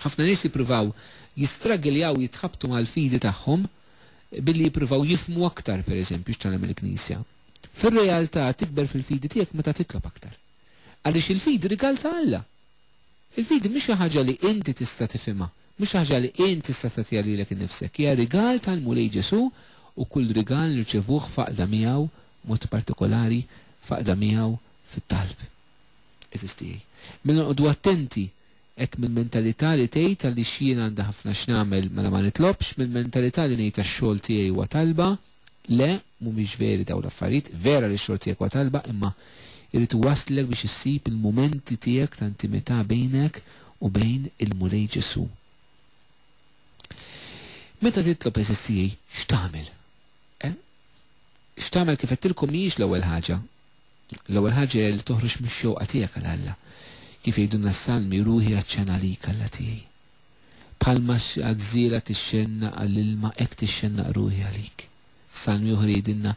Ħafna nies jippruvaw jistraggljaw jitħabtu mal-fidi tagħhom billi jippruvaw jifhmu aktar, pereżempju, x'tgħallem il-Knisja. Fir-realtà tikber fil-fidi tiegħek meta titlob aktar. Għaliex il-fidi rigal ta' Alla. Il-fidi mhi xi ħaġa li inti tista' tifhimha, mhi xi ħaġa li int tista' tagħtiha lilek innifsek. Hija rigal tal-Mulej Ġesù u kull rigal nirċevuh f'għaqda miegħu, b'mod partikolari f'għaqda miegħu fit-talb. Għeżież tiegħi, mela noqogħdu attenti Hekk mill-mentalità li tgħid għaliex jien għandi ħafna x'nagħmel mela ma nitlobx, mill-mentalità li ngħid għax-xogħol tiegħi huwa talba, le, mhumiex veri dawn l-affarijiet, vera li x-xogħol tiegħek huwa talba imma jrid iwasslek biex issib il-mumenti tiegħek ta' intimità bejnek u bejn il-Mulej Ġesù. Meta titlob għeżież tiegħi x'tagħmel? Eh? X'tagħmel kif għedtilkom mhijiex l-ewwel ħaġa. L-ewwel ħaġa hija li toħroġ mix-xewqa tiegħek għal Alla. Kif jgħidulna s-Salmi, Ruħi għatxan għalik, Alla tiegħi. Bħalma għażżiera tixxennaq għall-ilma, hekk tixxennaq ruħi għalik. F'salmi oħra jgħidilna,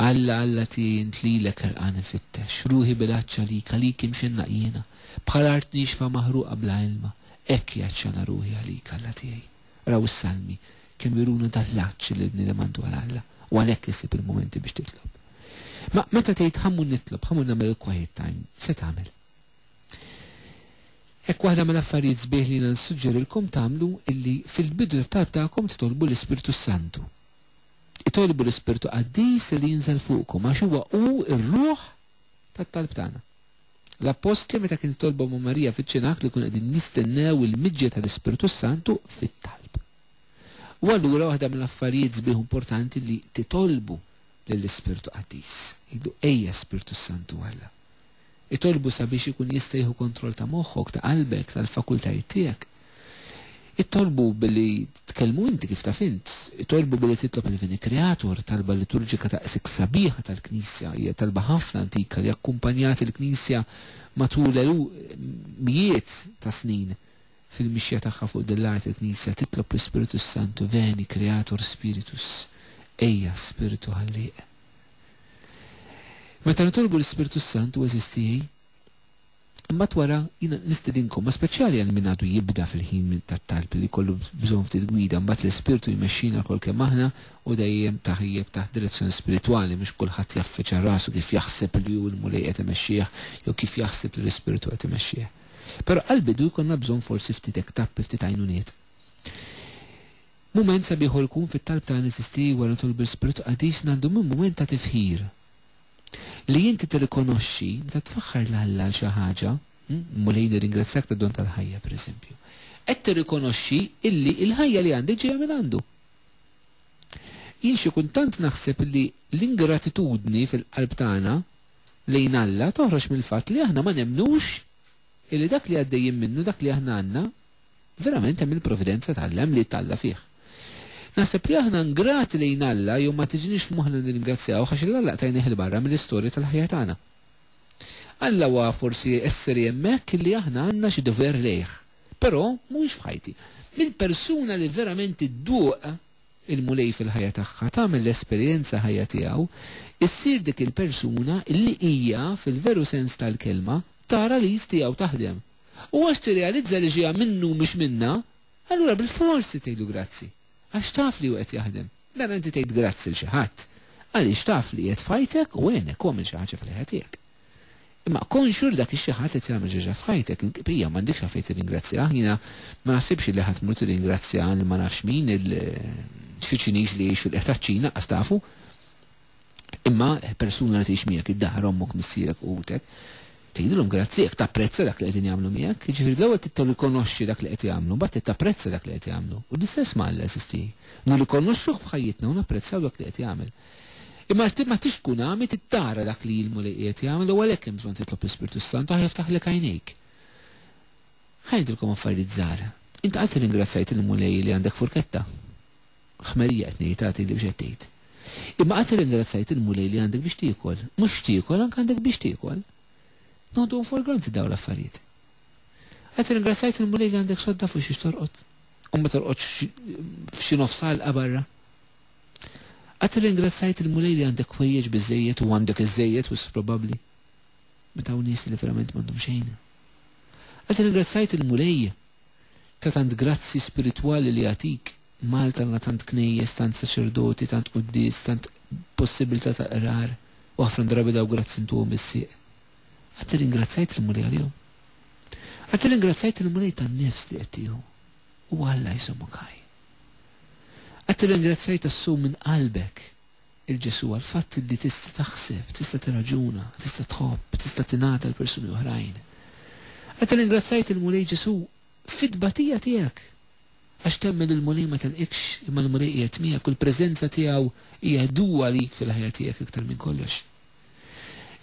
Alla, Alla tiegħi, int lilek ħerqan infittex. Ruħi bil-għatx għalik, għalik imxennaq jiena. Bħal art niexfa maħruqa bla ilma, hekk hi għatxana ruħi għalik, Alla tiegħi. Raw is-Salmi, kemm juruna dan l-għatx li l-bniedem għandu għal Alla, u għalhekk issib il-mumenti biex titlob. Ma meta tgħid ħa mmur nitlob, ħa mmur nagħmel il-quiet time, se tagħmel? Hekk waħda mill-affarijiet sbieħ li jiena nissuġġerilkom tagħmlu illi fil-bidu tat-talb tagħkom titolbu l-Ispirtu s-Santu. Itolbu l-Ispirtu Qaddis li jinżel fuqkom għax huwa hu r-ruħ tat-talb tagħna. L-appostli meta kien itolbhom ma' Marija fiċ-ċinag li jkunu qegħdin jistennew il-miġja tal-Ispirtu s-Santu fit-talb. U allura waħda mill-affarijiet sbieħ u importanti li titolbu lill-Ispirtu Qaddis. Jgħidlu ejja Spirtu s-Santu Alla. Itolbu sabiex ikun jista' jieħu kontroll ta' moħħok, ta' qalbek, tal-fakultajiet tiegħek. Itolbu billi tkellmu inti kif taf int. Itolbu billi titlob il-Vini Creator, talba liturġika daqshekk sabiħa tal-Knisja. Hija talba ħafna antika li akkumpanjat il-Knisja matul mijiet ta' snin fil-mixja tagħha fuq din l-art il-Knisja titlob l-Ispirtu s-Santu Veni Creator Spiritus Ejja Spirtu Ħallieq Meta nitolbu l-Ispirtu s-Santu eżisti Imbagħad wara jiena nistedinkom, b'mod speċjali għal min għadu jibda fil-ħin tat-talb, li jkollu bżonn ftit gwida, imbagħad l-Ispirtu jmexxina lkoll kemm aħna u dejjem tajjeb taħt direzzjoni spiritwali, mhux kulħadd jaffiċċa rasu kif jaħseb li hu l-Mulej qed imexxih jew kif jaħseb li l-Ispirtu qed imexxih. Però għall-bidu jkollna bżonn forsi ftit hekk tappi, ftit għajnuniet. Mument sabiħ hu jkun fit-talb tagħna eżisti wara nitolbu l-Ispirtu Qaddis ngħaddu minn mument ta' tifħir Li inti tirrikonoxxi meta tfaħħar 'l Alla għal xi ħaġa, Mulej nirringrazzjak tad-don tal-ħajja, pereżempju, qed tirrikonoxxi illi l-ħajja li għandi ġejja minn għandu. Jien xi kultant naħseb li l-ingratitudni fil-qalb tagħna lejn Alla toħroġ mill-fatt li aħna ma nemmnux illi dak li għaddejjin minnu, dak li aħna għandna, Verament hemm il-providenza tgħallem li t'Alla fih. Naħseb li aħna ngrati lejn Alla jew ma tiġinix f'moħħna nirringrazzjawh għax il Alla tajnih 'il barra mill-istorja tal-ħajja tagħna. Alla huwa forsi esseri hemmhekk illi aħna għandna xi dover lejh. Però mhuwiex f'ħajti. Mill-persuna li verament idduq il-Mulej fil-ħajja tagħha, tagħmel l-esperjenza ħajja tiegħu, issir dik il-persuna illi hija, fil-veru sens tal-kelma, tara l-id tiegħu taħdem. U għax tirrealizza li ġejja minnu u mhux minnha, allura bilforsi tgħidlu grazzi. Għax taf li hu qed jaħdem. Mela inti tgħid grazzi 'l xi ħadd għaliex taf li qiegħed f'ħajtek u għenek u għamel xi ħaġa fil-ħajja tiegħek. Imma konxju li dak ix-xi ħadd qed jagħmel xi ħaġa f'ħajtek, il-qbija m'għandikx għalfejn tirringrazzjah. Jiena ma naħsibx li ħadd imur tirringrazzja lil ma nafx min, il-Ċiċiniż li jgħix fil-qiegħ taċ-Ċina, qas tafu. Imma persuna li tgħix miegħek, id-dahar, ommok, missierek, uħutek, tgħidilhom grazzi jekk tapprezza dak li qegħdin jagħmlu miegħek. Jiġifieri l-ewwel trid tirrikonoxxi dak li qed jagħmlu, mbagħad trid tapprezza dak li qed jagħmlu. U l-istess ma' Alla, eżisti. Nirrikonoxxuh f'ħajjitna u napprezzaw dak li qed jagħmel. Imma ma tridx tkun għami, trid tara dak li l-Mulej qiegħed jagħmel u għalhekk hemm bżonn titlob l-Ispirtu s-Santu ħa jiftaħlek għajnejk. Ħa ngħidilkom affarijiet żgħar. Int qatt irringrazzjajt lill-Mulej li għandek furketta? Ħmerija qed ngħid, agħti li biex qed tgħid. Imma qatt irringrazzajt il-Mulej li għandek biex tiekol. Mhux x'tiekol, anke għandek biex tiekol. Noħduhom for granted dawn l-affarijiet. Qatt irringrazzajt il-Mulej li għandek sodda fuq xiex torqod. U ma torqodx f'xi nofs għalqa barra. Qatt irringrazzajt il-Mulej li għandek kwejjeġ biżejjed u għandek iż-żejjed wis probabbli. Meta hawn nies li verament m'għandhom xejn. Qatt irringrazzajt il-Mulej Ta' tant grazzji spiritwali li jagħtik, Malta għandna tant knejjes, tant saċerdoti, tant quddies, tant possibilità ta' qrar u ħafna drabi dawk grazzji ntuhom bis-sieq. Qatt irringrazzjajt lill-Mulej għalihom? Qatt irringrazzjajt lill-Mulej tan-nifs li qed tieħu? Huwa Alla jżommok ħaj. Qatt irringrazzjajt tas-sew minn qalbek 'il Ġesù għall-fatt li tista' taħseb, tista' tirraġuna, tista' tħobb, tista' tingħata l-persuni oħrajn. Qed irringrazzjajt il-Mulej Ġesù fit-tbatija tiegħek, għax temmen li l-Mulej ma telqikx imma l-Mulej qiegħed miegħek u l-preżenza tiegħu hija għedu għalik fil-ħajja tiegħek iktar minn kollox.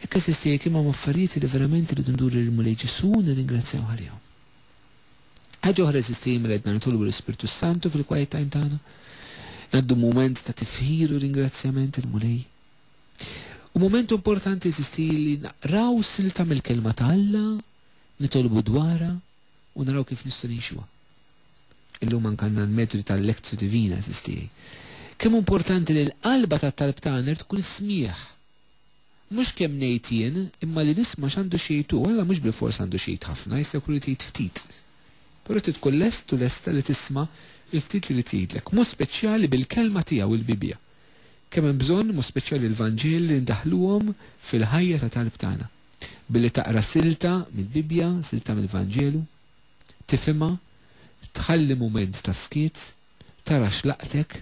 Hekk għażiż tiegħi kemm hemm affarijiet li verament irridu nduru lill-Mulej Ġesù u nirringrazzjawh għalihom. Ħaġa oħra, eżiż Tim, li għedna nitolbu l-Ispirtu s-Santu fil-quiet time tagħna. Ngħaddu mument ta' tifħir u ringrazzjament il-Mulej. U mument importanti, eżiż Tim, li naqraw silta mill-Kelma ta' Alla, nitolbu dwarha u naraw kif nistgħu ngħixuha. Illum anke għandna l-metodi tal-Lectio Divina, eżiż tiegħi. Kemm hu importanti li l-qalba tat-talb tagħna tkun is-smigħ! Mhux kemm ngħid jien, imma li nisma' x'għandu x'jgħid hu. Alla mhux bilfors għandu x'jgħid ħafna, jista' jkun irid jgħid ftit. Però trid tkun lest u lesta li tisma' l-ftit li jrid jgħidlek. Mod speċjali bil-Kelma tiegħu, il-Bibbja. Kemm hemm bżonn, mod speċjali l-Vanġeli, li ndaħħluhom fil-ħajja ta' talb tagħna. Billi taqra silta mill-Bibbja, silta mill-Vanġelu, tifhimha, tħalli mument ta' skiet, Tara x'laqtek?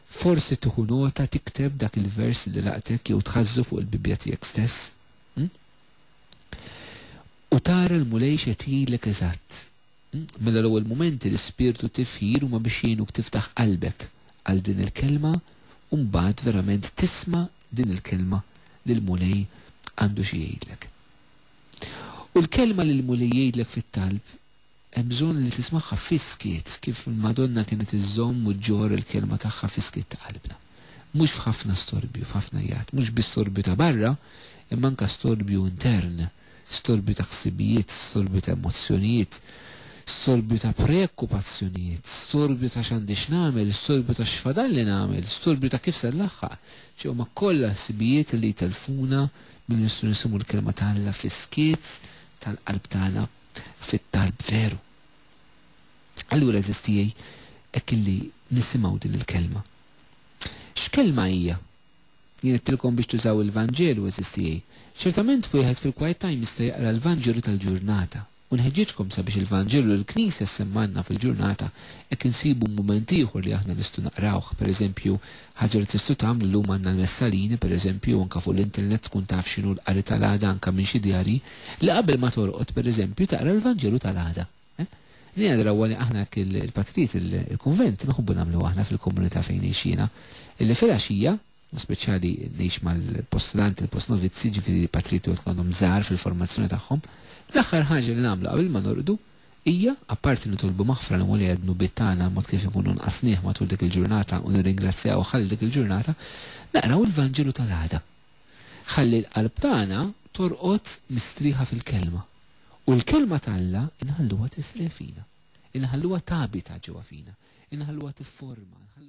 Forsi tieħu nota tikteb dak il-vers li laqtek jew tħażżu fuq il-Bibbja tiegħek stess? U tara l-Mulej x'qed jgħidlek eżatt? Mela l-ewwel mumenti l-ispirtu t-tifħir huma biex jgħinuk tiftaħ qalbek għal din il-kelma u mbagħad verament tisma' din il-kelma li l-Mulej għandu xi jgħidlek. U l-kelma li l-Mulej jgħidlek fit-talb Hemm bżonn li tismagħha fis-skiet, kif l-Madonna kienet iżżomm u ġġorr il-kelma tagħha fis-skiet ta' qalbna. Mhux f'ħafna storbju, f'ħafna jgħat, mhux biss storbju ta' barra, imma anke storbju intern, storbju ta' ħsibijiet, storbju ta' emozzjonijiet, storbju ta' preokkupazzjonijiet, storbju ta' x'għandi x'nagħmel, storbju ta' x'fadalli nagħmel, storbju ta' kif se nlaħħaq. Ċe huma kollha ħsibijiet li jtellfuna milli nistgħu nisimgħu l-kelma ta' Alla fis-skiet tal-qalb tagħna. fit-talb veru. Allura għeżież tiegħi, hekk illi nisimgħu din il-kelma. X'kelma hija? Jien għedtilkom biex tużaw il-Vanġelu għeżież tiegħi. Ċertament wieħed fil-quiet time jista' jaqra l-Vanġelu tal-ġurnata. U nħeġġiġkom sabiex il-Vanġelu li l-Knisja ssemmgħilna fil-ġurnata hekk insibu mument ieħor li aħna nistgħu naqrawh, pereżempju, Ħaġa li tistgħu tagħmlu llum għandna l-messalini, per eżempju, u anke fuq l-internet tkun taf x'inhu l-qari tal-għada anke minn xi djarji, li qabel ma torqod, per eżempju, taqra l-Vanġelu tal-għada. Din hija drawwa li aħna hekk il-patrijiet il-kunvent nħobbu nagħmluha aħna fil-komunità fejn ngħix jiena, illi filgħaxija, u speċjali ngħix mal-postulanti, il-postnovizzi, jiġifieri patrijiet li wieħed tkun għadhom żgħar fil-formazzjoni tagħhom, l-aħħar ħaġa li nagħmlu qabel ma norqdu hija, apparti li nitolbu maħfra lil Mulej għad-dnubiet tagħna għall-mod kif inkunu nqasnieh matul dik il-ġurnata u nirringrazzjawh għal dik il-ġurnata, naqraw il-Vanġelu tal-għada. Ħalli l-qalb tagħna torqod mistrieħa fil-Kelma. U l-Kelma t'Alla inħalluha tisrieħ fina. Inħalluha tabita ġewwa fina. Inħalluha tifforma.